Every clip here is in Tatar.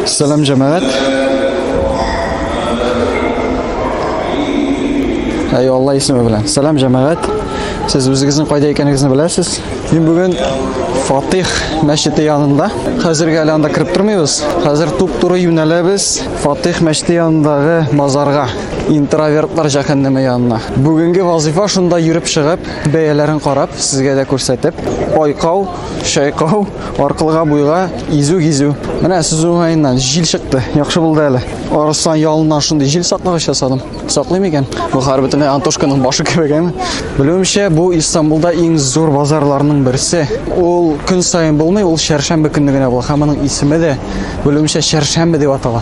Сәлам җәмәгать. Әй Алла исеме белән. Сәлам җәмәгать. Сез үзегезнең кайда икәнегезне беләсез? Мин бүген Фатих мәчете янында. Хәзергә әле анда кереп тормыйбыз. Хәзер туп-туры юнәләбез Фатих мәчете янындагы базарга, интровертлар җәһәннәме янына. Бүгенге вазифа шунда йөреп чыгып, бәяләрен карап, сезгә дә күрсәтеп, айкау Чайкау, аркылыга буйга изү гизү. Менә сүз уңаеннан җил чыкты. Яхшы булды әле. Арыслан ялыннан шундый җил саклагыч ясадым. Саклый микән? Бу хәр бөтенләй Антошканың башы кебек әме. Белүемчә, бу Истанбулда иң зур базарларның берсе. Ул көн саен булмый, ул чәршәмбе көнне генә була. Һәм аның исеме дә белүемчә чәршәмбе дип атала.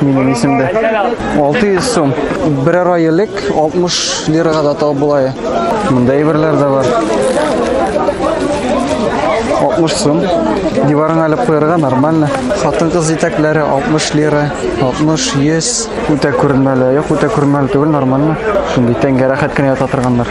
Минем исемдә. 600 сум. Берәр ай элек 60 лирага да тал булай. Монда әйберләр дә бар. 60 сум. Диварыңа алып куярга нормально. Хатын-кыз итәкләре 60 лира, 60, 100. Үтә күренмәле, юк, үтә күренмәле түгел, нормально. Шундый тәңгә рәхәт кенә ята торганнар.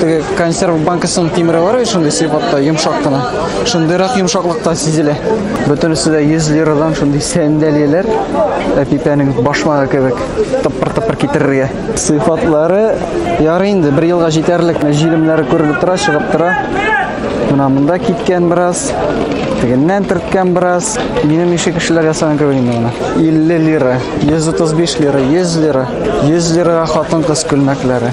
Теге консерв банкасының тимере бар бит шундый сыйфатта, йомшак кына. Шундыйрак йомшаклыкта сизелә. Бөтенесе дә 100 лирадан шундый сәндәлияләр. Әпипәнең башмагы кебек тыппыр-тыппыр китерергә. Сыйфатлары ярый инде, бер елга җитәрлек. Җилемнәре күренеп тора, чыгып тора. Менә монда киткән бераз, тегеннән төрткән бераз. Минем ише кешеләр ясаган кебек инде моны. 50 лира, 135 лира, 100 лира, 100 лирага хатын-кыз күлмәкләре.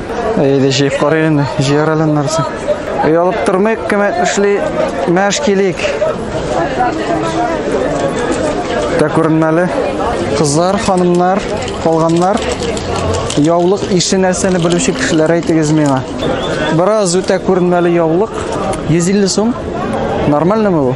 Әйдә җыеп карыйк инде, җыяр әле нәрсә. Оялып тормыйк, кем эшли, мәш килик. Дә күренмәле. Кызлар, ханымнар, калганнар, яулык ише нәрсәне белүче кешеләр әйтегез миңа. Бераз үтә күренмәле яулык, 150 сум. Нормальныймы бу?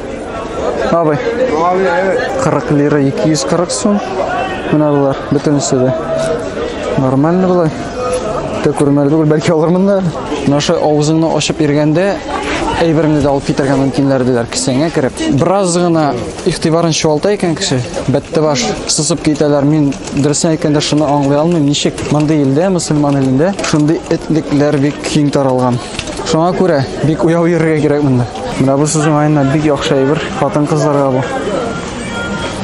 Абый. Абый, әйе. 40 лира 240 сум. Менә булар, бөтенесе дә. Нормально була. Тә күрмәле түгел, бәлки алырмын да. Наша авызыңны ачып иргәндә әйбереңне дә алып китәргә мөмкиннәр диләр кесәңә кереп. Бераз гына игътибарын чуалта икән кеше, бәтте баш сызып китәләр. Мин дөресен әйткәндә шуны аңлый алмыйм, ничек мондый илдә, мусульман илендә шундый этлекләр бик киң таралган. Шуңа күрә бик уяу йөрергә кирәк монда. Менә бу сүз уңаеннан бик яхшы әйбер хатын-кызларга бу.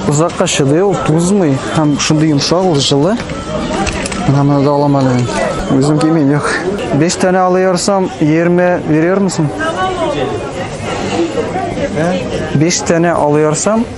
Озакка чыдый ул, тузмый һәм шундый йомшак ул җылы. Менә моны да алам әле мин. Үзем кимим, юк. 5 тәне алыйрсам 20 берер мисең? 5 тәне алыйрсам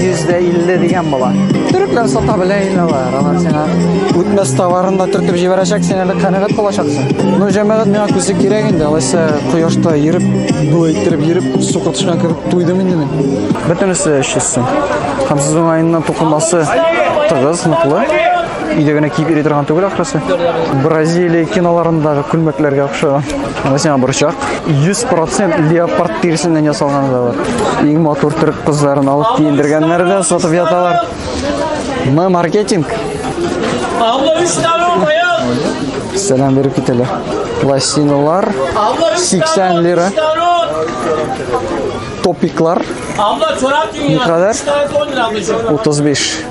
150 дигән була. Төрекләр сата белә инде алар. Алар сиңа үтмәс товарын да төртеп җибәрәчәк, син әле канәгать булачаксың. Ну, җәмәгать миңа күсе кирәк инде. Алайса кояшта йөреп, бу әйттереп йөреп, су котышкан кебек туйдым инде мин. Бөтенесе эшчесен. Һәм сез уңаеннан тукымасы тыгыз, ныклы. Өйдә генә киеп йөри торган түгел ахрысы. Бразилия киноларындагы күлмәкләргә охшаган. Анда сиңа борчак. 100% леопард тиресеннән ясалган да бар. Иң матур төрек кызларын алып киендергәннәр дә сатып яталар. Мы маркетинг. Сәлам биреп китәләр. Пластиналар 80 лира. Топиклар. Абла чорап киң. Никадәр? 35.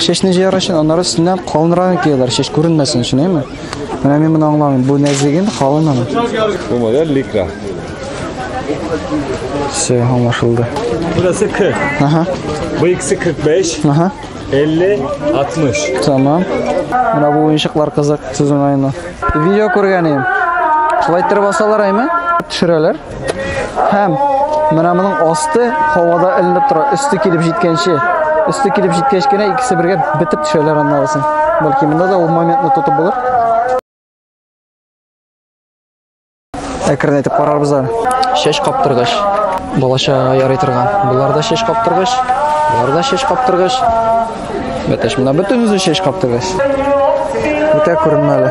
Чәчне җыяр өчен аннары өстеннән калынрагын кияләр, чәч күренмәсен өчен, әйме? Менә мин моны аңламыйм. Бу нәзеген калын аны. Бу модель ликра. Все, аңлашылды. Burası 40. Ага. Bu ikisi 45, Ага. 50, 60. Tamam. Менә бу уенчыклар кызык, сүзен айны. Видео күргән идем. Шулай иттереп асалар әйме? Төшерәләр. Һәм менә моның асты һавада эленеп тора, өсте килеп җиткәнче. Өсте килеп җиткәч кенә икесе бергә бетеп төшәләр аннарысын. Бәлки монда да ул моментны тотып булыр. Әкренәйтеп карарбыз да. Шеш каптыргыч. Балача ярый торган. Буларда шеш каптыргыч. Буларда шеш каптыргыч. Бәтәш, менә бөтен үзе чәч каптыгыз. Үтә күренмә әле.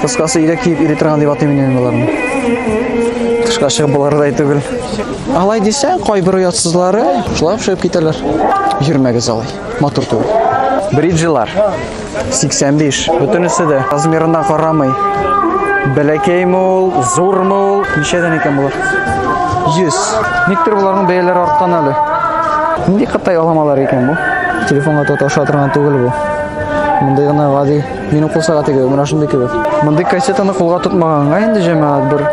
Кыскасы ирек киеп ири торган дип атыйм инде боларны. Тышка чыгып болардай түгел. Алай дисәң, кайбер оятсызлары шулай чыгып китәләр. Йөрмәгез алай. Матур түгел. Бриджилар. 85. Бөтенесе дә размерына карамый. Бәләкәйме ул, зурмы ул, ничәдән икән булыр? 100. Никтер боларның бәяләре арткан әле. Нинди кытай аламалар икән бу? Телефонга тоташа торган түгел бу. Мондый гына гади минем кул сәгате кебек, менә шундый кебек. Мондый кассетаны кулга тотмаганга инде җәмәгать бер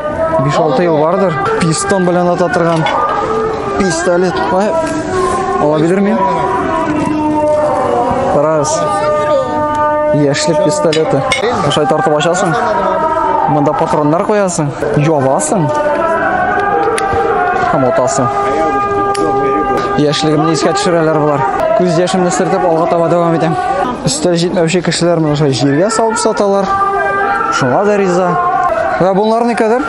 5-6 ел бардыр. Пистон белән ата торган пистолет. Алабидер мин? Раз. Яшьлек пистолеты. Ошай тартып ачасың. Монда патроннар куясың. Ябасың. Һәм отасың. Яшьлегемне искә төшерәләр болар. Күз яшемне сыртып алга таба дәвам итәм. Өстәл җитмәүче кешеләр моны шулай җиргә салып саталар. Шуңа да риза. Ва бунлар никадәр?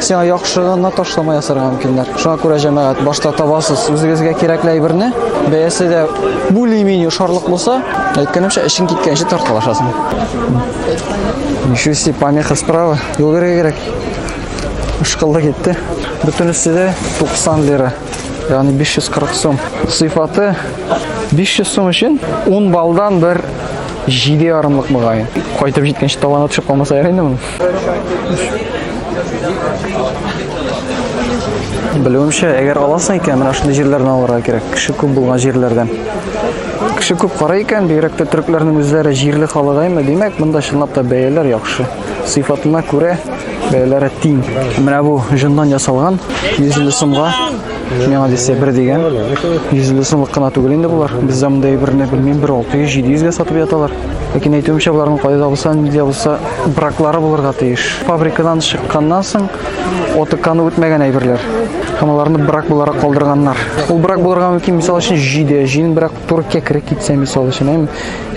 Сиңа яхшы гына ташлама ясарга мөмкиннәр. Шуңа күрә җәмәгать башта табасыз үзегезгә кирәкле әйберне, бәясе дә более-менее шарлык булса, әйткәнемчә, эшең киткәнче тарткалашасың. Ничуси помеха справа, юл бирергә кирәк. Ышкылды китте. Бөтенесе дә 90 лира. Ягъни 540 сум. Сыйфаты 500 сум өчен 10 балдан бер җиде ярымлык мөгаен. Кайтып җиткәнче табаны төшеп калмаса ярый инде моның. Белүемчә, әгәр аласың икән, менә шундый җирләрдән алырга кирәк. Кеше күп булган җирләрдән. Кеше күп карый икән, бигрәк тә төрекләрнең үзләре җирле халыгаймы, димәк, монда чынлап та бәяләр яхшы. Сыйфатына күрә бәяләре тиң. Менә бу җондан ясалган 150 сумга Миңа дисә бер дигән. 150 сумлык кына түгел инде булар. Бездә мондый берне белмим, бер 600-700 гә сатып яталар. Ләкин әйтүемчә, буларның кайда да булса, нидә булса браклары булырга тиеш. Фабрикадан чыкканнан соң отыкканы үтмәгән әйберләр. Һәм аларны брак буларак калдырганнар. Ул брак булырга мөмкин, мисал өчен, җиде, җин брак Туркия кереп китсә, мисал өчен, әм,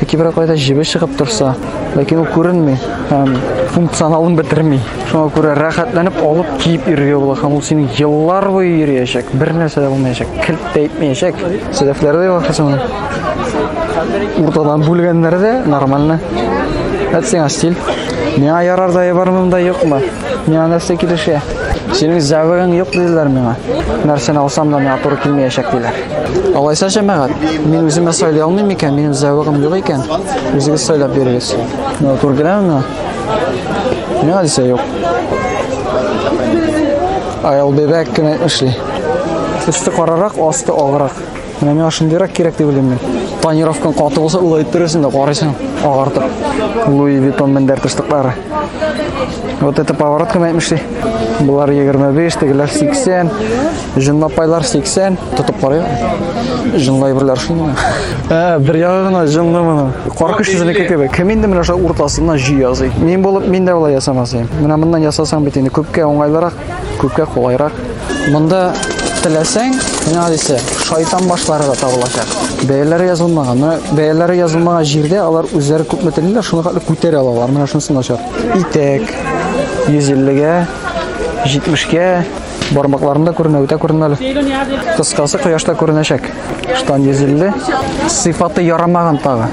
яки бер кайда җебе чыгып торса, ләкин ул күренми һәм функционалын бетерми. Шуңа күрә рәхәтләнеп алып киеп йөрергә була һәм ул синең еллар буе йөриячәк, бер нәрсә дә булмаячак, килт тә итмәячәк. Сәләфләрдә вакытсында уртадан бүлгәннәр дә нормально. Әтсең астил. Миңа ярар да ябар монда юкмы? Миңа нәрсә килешә? Синең зәвегең юк диләр миңа. Нәрсәне алсам да миңа туры килмәячәк диләр. Алайса җәмәгать, мин үземә сайлый алмыйм икән, минем зәвегем юк икән, үзегез сайлап бирегез. Миңа туры киләме миңа? Миңа дисә юк. Аял бебәк кенә эшли. Өсте карарак, асты аграк. Менә миңа шундыйрак кирәк дип уйлыйм мин. Тонировкаң каты булса, улай иттерерсең дә карыйсың, агартып. Луи Витон мендәр тыштыклары. Вот это поворот кем әйтмешли? Болар 25, тегеләр 80, җынлапайлар 80. Тотып карый. Җынлай берләр шуны. Ә, бер ягына җынлы моны. Каркыш сезнеке кебек. Кем инде менә шул уртасына җи язый. Мин булып, мин дә болай ясамас идем. Менә моннан ясасаң бит инде күпкә уңайлырак. Күпкә кулайрак. Монда теләсәң, менә дисә, шайтан башлары да табылачак. Бәяләре язылмаган. Менә бәяләре язылмаган җирдә алар үзләре күпме телиләр, шуны хәтле күтәрә алалар. Менә шунысы начар. Итәк 150-гә, 70-гә, бармакларында күренә, үтә күренмәле. Кыскасы кояшта күренәчәк. Штан 150. Сыйфаты ярамаган тагы.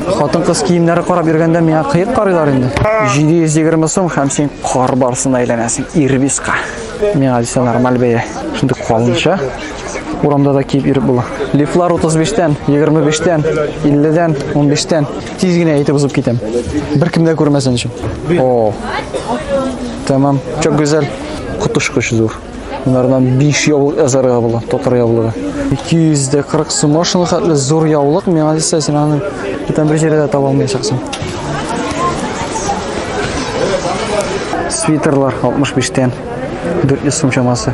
Хатын-кыз киемнәре карап йөргәндә миңа кыек карыйлар инде. 720 сум һәм син кар барсына әйләнәсең. Ирбиска. Миңа дисә нормаль бәя. Шундый калынча урамда да киеп йөреп була. Лифлар 35-тән, 25-тән, 50-дән, 15-тән. Тиз генә әйтеп узып китәм. Бер кем дә күрмәсен өчен. О. Тәмам. Чок гүзәл. Котышкыч зур. Монардан 5 яулык язарга була, татар яулыгы. 240 сум машина хәтле зур яулык, миңа дисә син аны бүтән бер җирдә таба алмаячаксың. Свитерлар 65 тен 400 сум чамасы.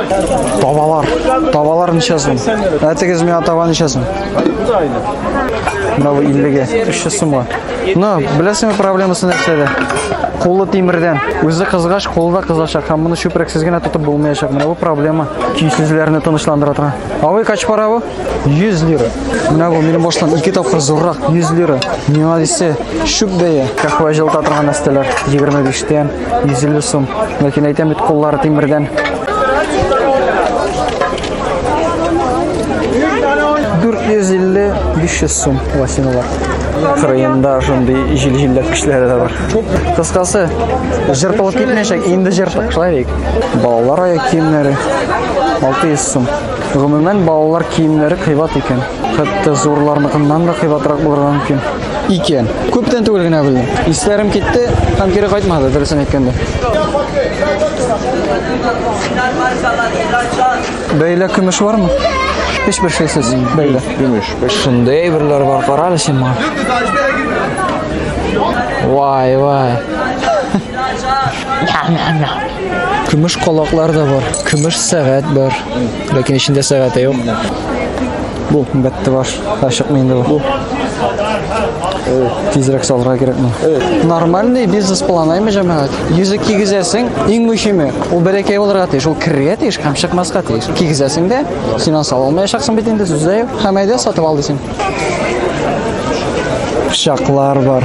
Табалар. Табалар ничә сум? Ә тегез миңа таба ничә сум? Менә бу 50-гә, 300 сумга. Ну, беләсеңме проблемасы нәрсәдә? Кулы тимердән. Үзе кызгач, кулы да кызачак. Һәм моны чүпрәксез генә тотып булмаячак. Менә бу проблема. Көйсезләрне тынычландыра тора. Авый кач пара бу? 100 лира. Менә бу минем баштан ике тапкыр зуррак 100 лира. Миңа дисә, шүп бәя. Кахва җылыта торган нәрсәләр 25 тән. 150 сум. Ләкин әйтәм бит куллары тимердән. 450-500 сум лосиналар. Кырыенда шундый җил-җилләп кешеләре дә бар. Кыскасы, жыртылып китмәячәк, инде жыртык шулай Балалар аяк киемнәре 600 сум. Гомумән балалар киемнәре кыйбат икән. Хәтта зурларныкыннан да кыйбатрак булырга мөмкин. Икән. Күптән түгел генә белдем. Исләрем китте һәм кире кайтмады, дөресен әйткәндә. Бәйлә көмеш бармы? Һич бер шәйсез бәйлә. Көмеш. Шундый әйберләр бар, кара әле син моңа. Вай, вай. Көмеш колаклар да бар, көмеш сәгать бар. Ләкин эчендә сәгате юк. Бу бәтте баш. Ашыкмый инде бу. Тизрәк салырга кирәкме? Нормальный бизнес план аймы җәмәгать? Йөзек кигезәсең, иң мөһиме, ул бәләкәй булырга тиеш, ул керергә тиеш һәм чыкмаска тиеш. Кигезәсең дә, син аны сала алмаячаксың бит инде, сүз дә юк. Һәм әйдә сатып ал дисең. пычаклар бар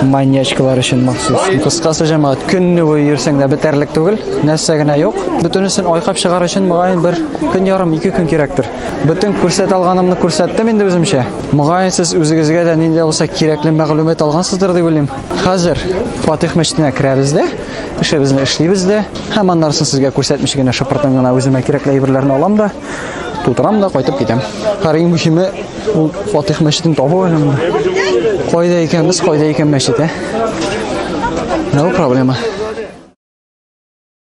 маньячкалар өчен махсус кыскасы җәмәгать көнне буе йөрсәң дә бетәрлек түгел нәрсә генә юк бөтенесен айкап чыгар өчен мөгаен бер көн ярым ике көн кирәктер бөтен күрсәт алганымны күрсәттем инде үземчә мөгаен сез үзегезгә дә нинди булса кирәкле мәгълүмат алгансыздыр дип уйлыйм хәзер фатих мәчетенә керәбез дә эшебезне эшлибез дә һәм аннарсын сезгә күрсәтмичә генә шыпыртын гына үземә кирәкле әйберләрне алам да Тутырам да кайтып китәм. Һәр иң мөһиме ул Фатих мәчетен табу әле. Кайда икән без, кайда икән мәчет, ә? No проблема.